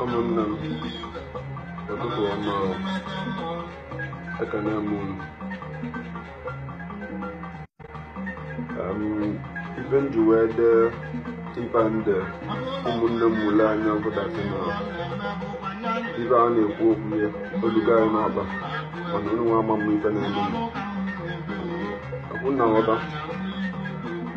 ụmụnne m ụtụtụ ọma o. ekene m unu Em, ife m ji wee dee ife a m dee ụmụnne m mụlụ anya bụ that na ife a na-ekwu okwu ya oluga anyị n'ọba mana unu nwa ama m ife na-eme m. Ọ bụ na nghọta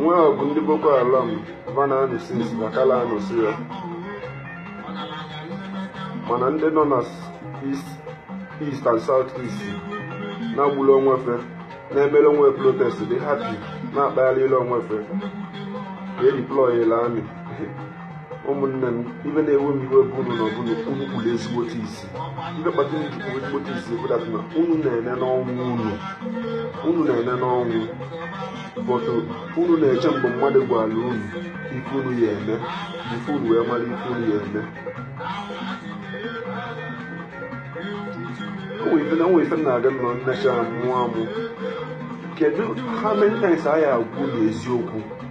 nwa ọgụ ndị boko haram va na-anụ since na kala anụsi ya mana ndị nọ na east east and south east na-agbula onwe fe na-emere onwe protest dị happy na-akpagharịla onwe fe ka e deployela army ụmụnne m ife na-ewe m iwe bụ unu na ọ bụ na unu kpuru ezigbote isi ife kpata unu ji kpuru ezigbote isi bụ that na unu na-ene n'ọnwụ unu unu na-ene n'ọnwụ but unu na-eche mgbe mmadụ gwara unu ife unu ya eme ife unu wee mara ife unu ya eme o nwere ife na o nwere ife m na-aga nọ nnecha mụọ amụ kedu how many times a ya agwa unu eziokwu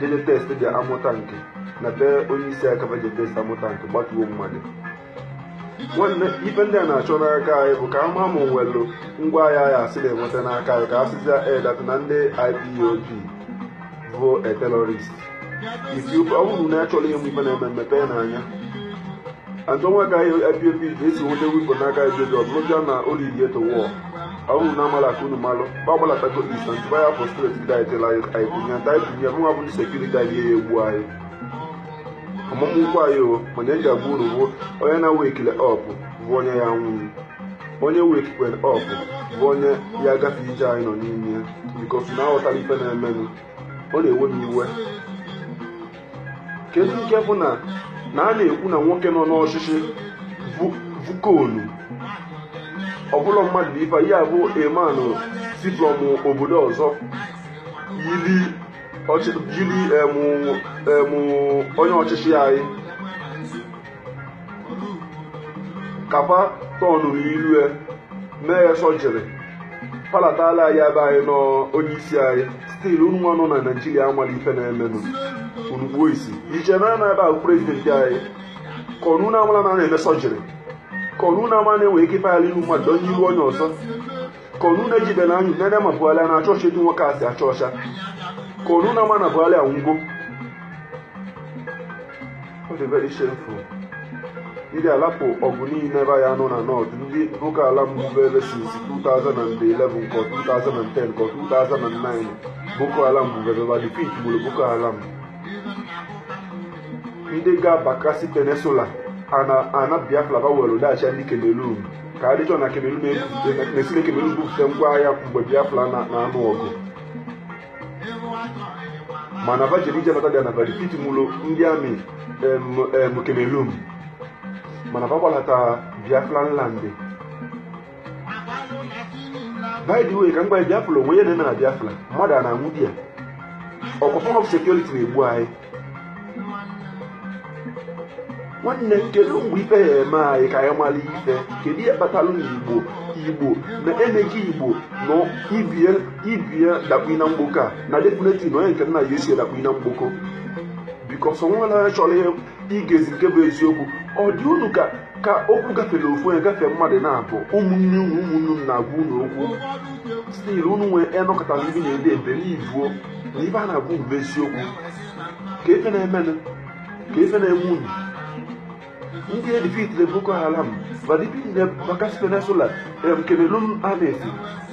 jede test the armoured tank na be onye isi aka be jede test armoured tank gbatuo mmadụ nwanne ife ndị a na-achọ n'aka anyị bụ ka a ma ma nwelụ ngwa agha anyị asị na-enweta n'aka anyị ka a sịzia that na ndị IPOB bụ a terrorist if ọ bụrụ na achọrọ ịma ife na-eme mepenụ anya achọ nwa ka anyị IPOB ga-esi nweta weapon n'aka IPOB ọ bụrụzia na o leadie to war ọ wụrụ na amala ka unu malụ mgbe ọbụla tako isa ntụba ya afọ state ndị anyị jela anyị kwunye ndị anyị kwunye mụnwa bụ ndị security anyị ya egbu anyị ọmụmụ ụkwụ anyị o mana eji agba uru bụ onye na wakele up bụ onye ya nwụrụ onye wakekwe up bụ onye ya agafe ije anyị nọ n'ime ya because na aghọtara ife na-emenụ ọ na-ewe m iwe kedu nke bụ na na a na-ekwu na nwoke nọ n'ọchịchị bụ clone ọ bụlọ mmadụ bụ ife ya bụ emanụ si from obodo ọzọ yiri onye ọchịchị anyị kapa tọnụ n'ilu ya mee ya surgery palatala anyị ebe anyị nọ onye isi anyị still unu nwa nọ na Nigeria amala ife na-emenụ unu kpuo isi ije na na ebe ahụ president anyị ka unu na amala na a na-eme surgery ka unu na amala na e nwe ike ịpagharị ihu mmadụ o yibe onye ọzọ ka unu na ejibe anya nene ma buhari na-acha ọcha etu nwoke a si acha ọcha ka unu a ma na buhari anwụgo ọ dị very shameful ndị a lapụ ọgụ niile ebe ya nọ na north ndị nwoke ala mbụbe ebe since 2011 nke 2010 nke 2009 boko haram bụbebe ma defeat gburu boko haram ndị gaa bakassi peninsula ana ana biafra ba were daghachi ndị cameroon ka ahidjo na cameroon na-esi na cameroon bupụta ngwa agha mgbe biafra na-anụ ọgụ mana va jiri ije nata bịa na va defeat mụrụ ndị army cameroon mana va gbalata biafran land by the way ka m gwa biafra onwe ya na-eme na biafra mmadụ a na-anwụ there ọkwa form of security na-egbu anyị nwanne m kedu mgbe ife ya eme anyị ka anyị mara ife kedu ihe kpatara na igbo igbo na emeghị igbo na ị bịa ị bịa dakpuo na mgboko a na definitely na onye nke nna ya esi adakpu na mgboko because o nwerọ onye chọrọ igezi nke bụ eziokwu ọ dị unu ka ka okwu gafere ofu onye gafee mmadụ naabọ ụmụnne unu ụmụnne unu na-agwa unu okwu still unu nwee enọkọtara ndị na-ede ebere ivuo na ife a na-agwa unu bụ eziokwu kee ife na-eme unu kee ife na-eme unu ndị edefeatile boko haram ma defeatile bakassi peninsula em cameroon annex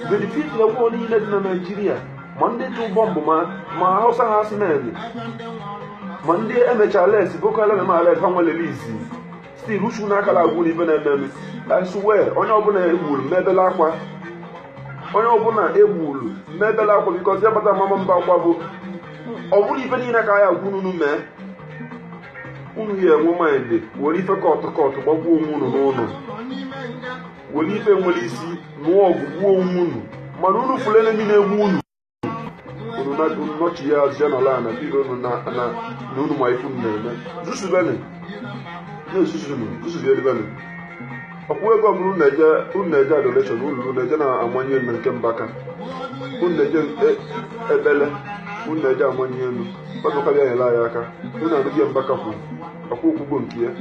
mgbe defeatile war niile dị na naijiria ma ndị tụ bọmbụ ma ma hausa herdsmen ma ndị emechala esi boko haram ma ala efe wele release still uchu unu akala agwa unu ife na-eme eme i swear onye ọbụla egburu m ebele akwa onye ọbụla egburu m ebele akwa because abata mama mba akwa bụ ọ bụrụ ife niile ka anyị agwa unu mee unu ya enwe mind were ife kọtụ kọtụ gbagbuo onwe unu n'ụlọ were ife nwere isi nụọ ọgụ gbuo onwe unu mana unu fụrụ enemy na-egbu unu unu nọchi ya azịa n'ala a na biro unu na unu ma ife na-eme zuzubenụ na-ezuzunụ zusubielibenu ọkwa ego ọbụla unu na-eje unu na-eje adoration unu na-eje na emmanuel nke mbaka unu na-eje ekpele unu na-eje emmanuel ọdụka bịa nyere anyị aka unu anụghị mbaka kwuru okwu o kwugo nke ya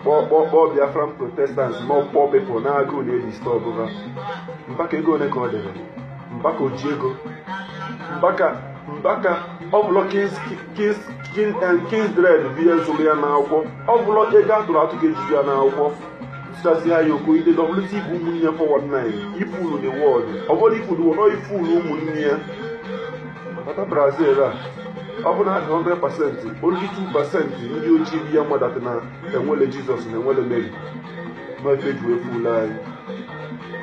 kpọ kpọ kpọ biafran protesters ma ọ kpọ ipob na agụụ na-edisturb ha mbaka ego ole ka ọ dịrị Mbaka oji ego Mbaka Mbaka ọ bụlọ kins kins kin and kindred bịa zụrụ ya n'akwụkwọ ọ bụlọ ego atụrụ atụ ka e ji zụ ya n'akwụkwọ tụtazi ha ya okoide dọbụlụta ibu ụmụnne 419 ị fụlụ the world ọ bụrụ ị fụlụ wọrọ ị fụlụ ụmụnne ya bata brazil a ọ bụ na 100 percent only 2 percent ndị ojii bi ya mmadụ na enwele jizọs na enwele meri n'ofe eji wee fuula anyị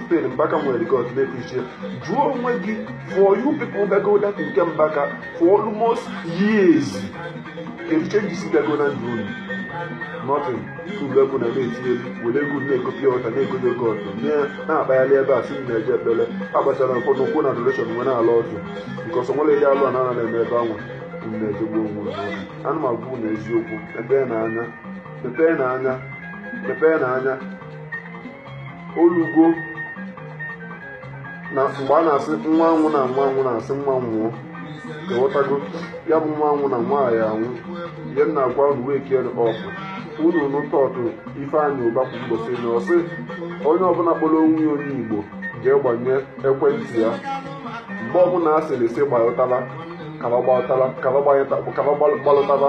still mbaka nwere god na-eprichie jụọ onwe gị for you people gago that nke mbaka for almost years kedu changes gago na ndụ unu nothing uru egwu na na-etinye were egwu na-ekopi ọta na-egodo ego ọtụ na-akpagharị ebe a sị m na-eje ekpere agbachara nkwụ na ụkwụ na adoration nwe na-ala ọtụ nke ọsọ nwere ihe alụ a na-ana na-eme ebe anwa m na-ejegbu onwe m ana m agwa unu eziokwu ebe na anya mepee na anya mepee na anya olugo na mgbe a na-asị nwa anwụna nwa anwụna a sị nwa nwụọ ewetago ya bụ nwa anwụna nwa ahụ anwụ ihe m na-agwa unu wee kiere ọfụ unu nụta ọtụ ifeanyị ụba kwu ụbọchị na ọ sị onye ọbụla kpọrọ onwe ya onye igbo jee gbanye ekwentị ya mgbe ọbụla a sịrị sị gbalụtala kaba gbalụtala kaba gbanye- kaba gbalụtala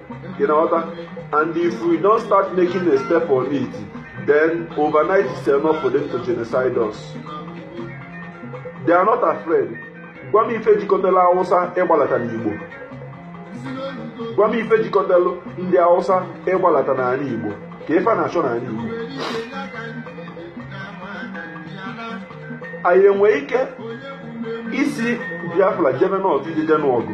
You know what? And if we don't start making a step on it, then overnight it's enough for them to genocide us. They are not afraid. Gwa m ife jikọtara Awụsa ịgbalata n'Igbo. Gwa m ife jikọtara ndị Awụsa ịgbalata n'anị Igbo ka ife na-achọ n'anị Igbo. Anyị enwee ike isi Biafra jebe North ije nụọ ọgụ.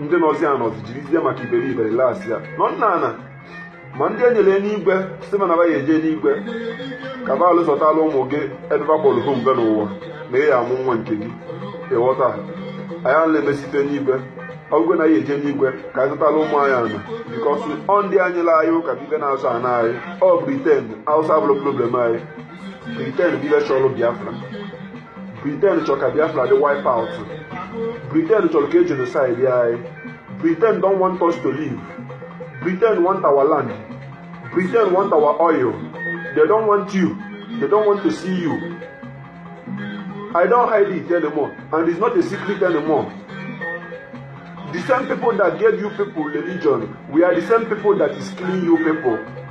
ndị nọzi anọzi jirizie maka iberibe las ya nọ nna ana ma ndị e nyere enigwe sị mana ya eje n'igwe ka baalụ zọtala ụmụ gị ebe bakpọrọ hụ mgbe n'ụwa ma ị ya-amụ nwa nke gị ịghọta anyị ala emesite n'igwe ọgụgụ na ya eje n'igwe ka anyị zọtala ụmụ anyị ana because ọ ndị anyị la anyị ụka bibe na-azụ ana anyị ọ britain awụsa abụrọ problem anyị briten bụ ibe chọrọ biafra briten chọrọ ka biafra dị wipe out briten chọrọ ka e genocide ya anyị briten don want us to live briten want our land briten want our oil they don want you they don want to see you I don't hide it anymore, and it's not a secret anymore. The same people that gave you people religion, we are the same people that is killing you people.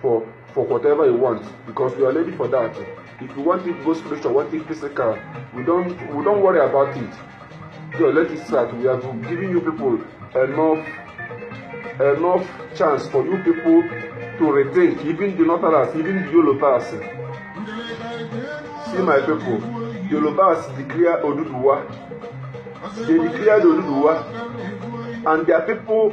for for whatever you want because you are ready for that if you want it go spiritual want it physical we don't we don't worry about it so let it start we are giving you people enough enough chance for you people to rethink even the northerners even the yorubas see my people yorubas declare oduduwa they declare oduduwa and their people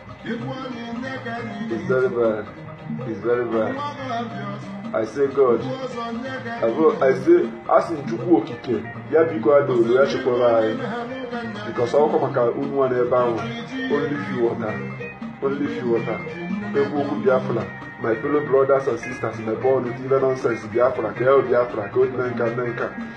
It's very bad. It's very bad. I say God. I, go, I say asị Chukwu okike ya biko ada olu ya chekwara anyị because ọkwa maka unu nwa n'ebe ahụ only few water only few water ekwu okwu Biafra my fellow brothers and sisters my born with even nonsense Biafra ka el Biafra ka odinenka nnenka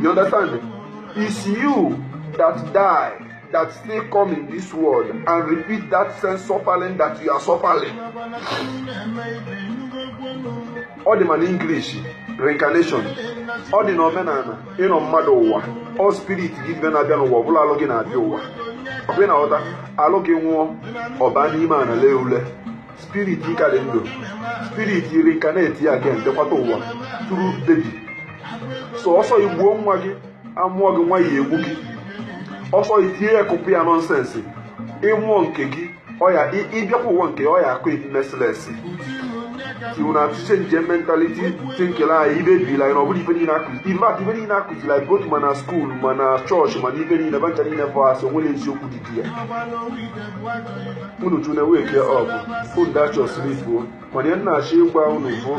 You understand? It's you that die that still come in this world and repeat that same suffering that you are suffering. Ọ dị ma n'English reincarnation ọ dị n'omenala ịnọ mmadụ ụwa ọ spirit gị ibe na-abịa n'ụwa ọ bụlọ alụ gị na-abịa ụwa ọ bụ ị na-aghọta alụ gị nwụọ ọ baa n'ime ana lee ule spirit ka dị ndụ spirit iri ka na-eti ya gen dekwata ụwa tụrụ bebi sọsọ igbuo nwa gị amụọ gị nwa ya egbu gị ọsọ itinye ya kụpụ ya nọnsensị ịmụọ nke gị ọya ị- ịbịakwa ụwa nke ọya akụ imesilesi iwu na atụ change mentaliti tinkele anyị ibe bila anyị na ọbụla ife niile a kụzi in fact ife niile a kụziri anyị both ma na skuul ma na chọọchị ma na ebe niile fa ncha niile bụ asị o nwerọ eziokwu dị na ya unu tune wake up unu dachọ sleep o mana ihe m na-achọ ịgwa unu bụ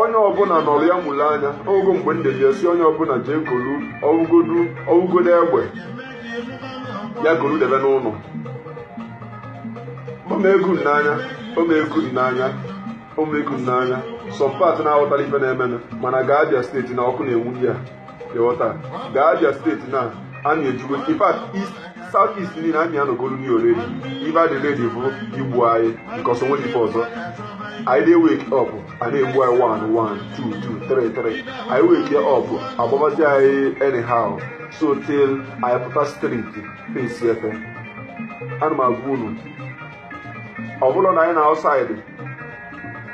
onye ọbụla nọrọ ya mụrụ anya oge mgbe ndị ji esi onye ọbụla jee golu ọ wụgodu ọ wụgodu egbe ya golu debe n'ụlọ o mego unu n'anya o mego unu n'anya o mego unu n'anya some part na-aghọtara ife na-emenụ mana gaa Abia steeti na ọkụ na-enwu ya ịghọta gaa Abia steeti na army ejigo in fact east south east niile army anọgolu ni already ife a dị ready bụ igbu anyị because o nwerọ ife ọzọ anyị dey wake up a na-egbu anyị one one two two three three anyị wake up agbabazi anyị anyhow so till anyị pụta street face ife a na m agwa unu ọ bụrụ na anyị nọ outside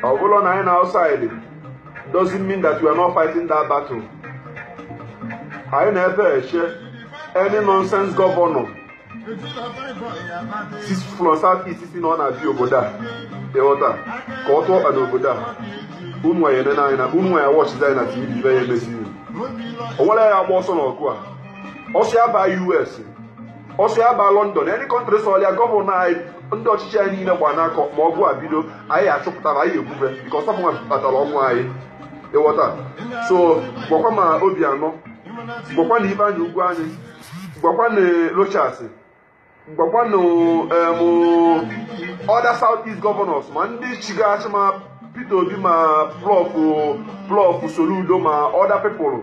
ọ bụrụ na anyị nọ outside doesn't mean that we are not fighting that battle anyị nọ ebe a eche any nonsense gọvanọ si from south east si na ọ na-abịa obodo a ịghọta ka ọ tụọ ọkpa n'obodo a unu anyị nene anyị na unu anyị watchịzi anyị na tv ife ya-emezi o nwere ya agba ọsọ n'ọgụ a ọ sọ ya baa US ọ sọ ya baa London any country sọrọ ya gọvanọ anyị ndị ọchịchị anyị niile gbanakọ ma ọgụ a bido anyị achụpụtara anyị egbube nke ọsọ mwa kpatara ọnwụ anyị ịghọta so gwakwa ma Obiano gwakwa na Ifeanyi Ugwuanyi gwakwa na Rochas gwakwa na other south east governors ma ndị chịga achị ma Peter Obi ma prof prof Soludo ma other people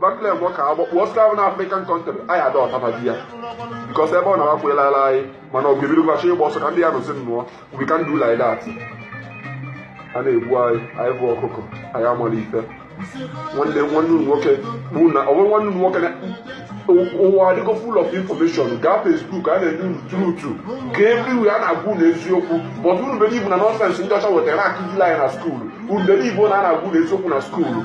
Bakle gwọ ka agbọ kpụọ slave na African country anyị ada ọtabazi ya because ebe ọ na-akwụela ala anyị mana ọ ga-ebido gwachi ịgba ọsọ ka ndị ya nụzi nnụọ we can do like that a na-egbu anyị anyị bụ ọkụkọ anyị amarọ ife nwanne nwanne unu nwoke bụ na ọ bụrụ nwanne unu nwoke na ụwa adịgo full of information gaa Facebook a na-enye unu truth ka everywhere a na-agwa unu eziokwu but unu believe na nonsense ndị ọcha wetara na-akụzili anyị na skuulu unu believe na a na-agwa unu eziokwu na skuulu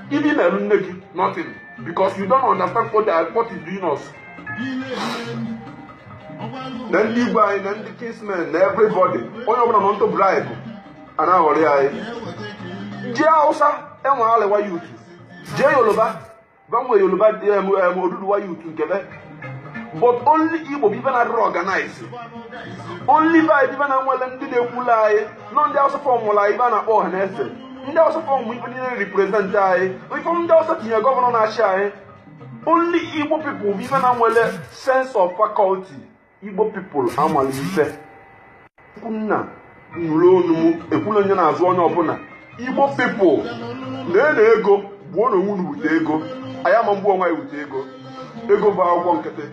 Ife na-eme nne gị nothing because you don't understand what, they are, what is doing us. na ndị igwe anyị na ndị kinsmen na everybody onye ọbụla nọ into bribe a na-aghọrị anyị jee Hausa e nwee Arewa youth jee Yoruba fa nwee Yoruba em, em, Oduduwa youth nke be but only igbo bụ ife na-adịrị organize only be anyị bụ ife na nwere ndị na-ekwulu anyị ọnụ ndị awụsa formụlụ anyị ife a na-akpọ ọha na eze ndị awụsa form ife niile represent anyị ife ndị awụsa tinye governor na-achị anyị only igbo people bụ ife na nwere sense of faculty igbo people amala ife nna nụrụ onu m ekwula onye na-azụ onye ọbụla igbo people na-ena ego gbuo na onwe wute ego anyị ama mgbu onwe anyị wute ego ego bụ akwụkwọ nkịtị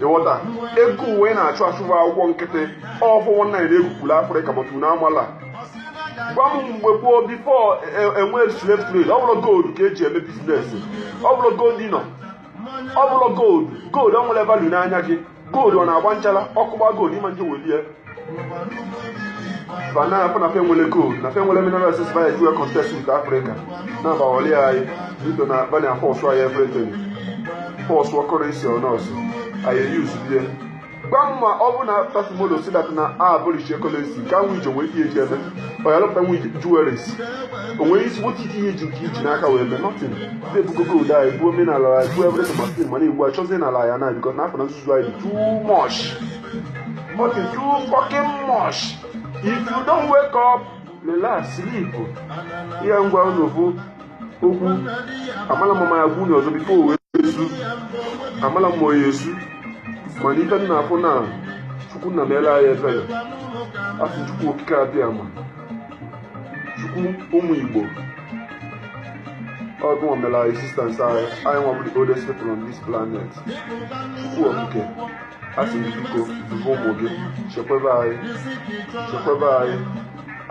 ị ghọta ego unu na-achụ achụ bụ akwụkwọ nkịtị ọfụ nwanne anyị na-egwupụrụ afrịka maka na amala gwa m mgbe gboo before e nwee slave trade ọ bụrọ gold ka eji eme business ọ bụrọ gold dinar ọ bụrọ gold gold ọ nwere value n'anya gị gold ọ na-agba nchara ọkụ gbaa gold ị ma nje welie bana afọ na fe nwere gold na fe nwere mineral resources via dual contest with Africa na abawali anyị bido na bani afọ ọsụ anyị everything force ọkọrọ isi ọnọsụ anyị e use bie gwa m ma ọ bụ na after tomorrow si dat na a abụrịchi necklace ka nwe ijo wee ihe eji eme ọ yalụ pụta nwe jewelries onwe isi nwoke ike ihe ji nke iji n'aka wee mee nothing ndị ebugo gold anyị buo omenala ya buo ebrete mastin mana igbo achọzie n'ala ya na bikọ n'afọ na nzuzu anyị dị too much nothing too fucking much if you don't wake up relax sleep ihe m gwa unu bụ okwu amala m ma ya gwu ọzọ biko o wee esu amala m ma ya esu mana ife m na-afụ na chukwu nna meele anyị ebere afọ chukwu okike abịama chukwu ụmụ igbo ọ gị mela existence anyị anyị nwa bụrụ the oldest people on this planet chukwu okike a sị m biko dube ụmụ gị chekwebe anyị chekwebe anyị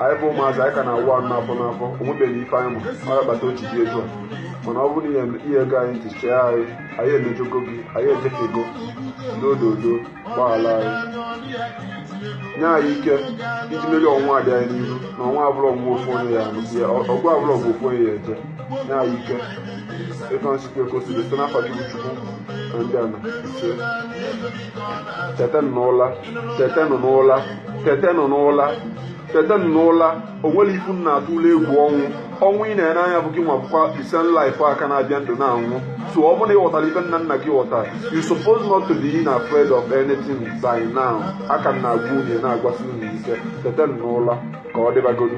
anyị bụ ụmụazị anyị ka na-awụ anụ n'afọ n'afọ o nwebeghị ife anyị ma ọ ga-akpata otu dị etu a mana ọ bụrụ na i gego anyị ntị chee anyị anyị emejọgo gị anyị ejefego n'ododo gbaghara anyị nye anyị ike iji merie ọnwụ a dị anyị n'ihu na ọnwụ a abụrọ ọnwụ ofu onye ya anwụ ọgụ abụrọ ọgụ ofu onye ya eje ya ike etu anyị sikwa ekosiri site n'afọ gị bụ chukwu na ndị ana ise tetenụ n'ụla tetenụ n'ụla tetenụ n'ụla tetenụ n'ụla o nwere ife unu na-atụlụ egwu ọnwụ ọnwụ ị na-ene anya bụ gị nwa bụkwa isen life a ka na-abịa ndụ na-anwụ so ọ bụrụ na ị ghọtara ife nna nna gị ghọtara you suppose not to be afraid of anything by now aka m na-agwa unu na-agwasị unu ike tetenụ n'ụla ka ọ dịbagodu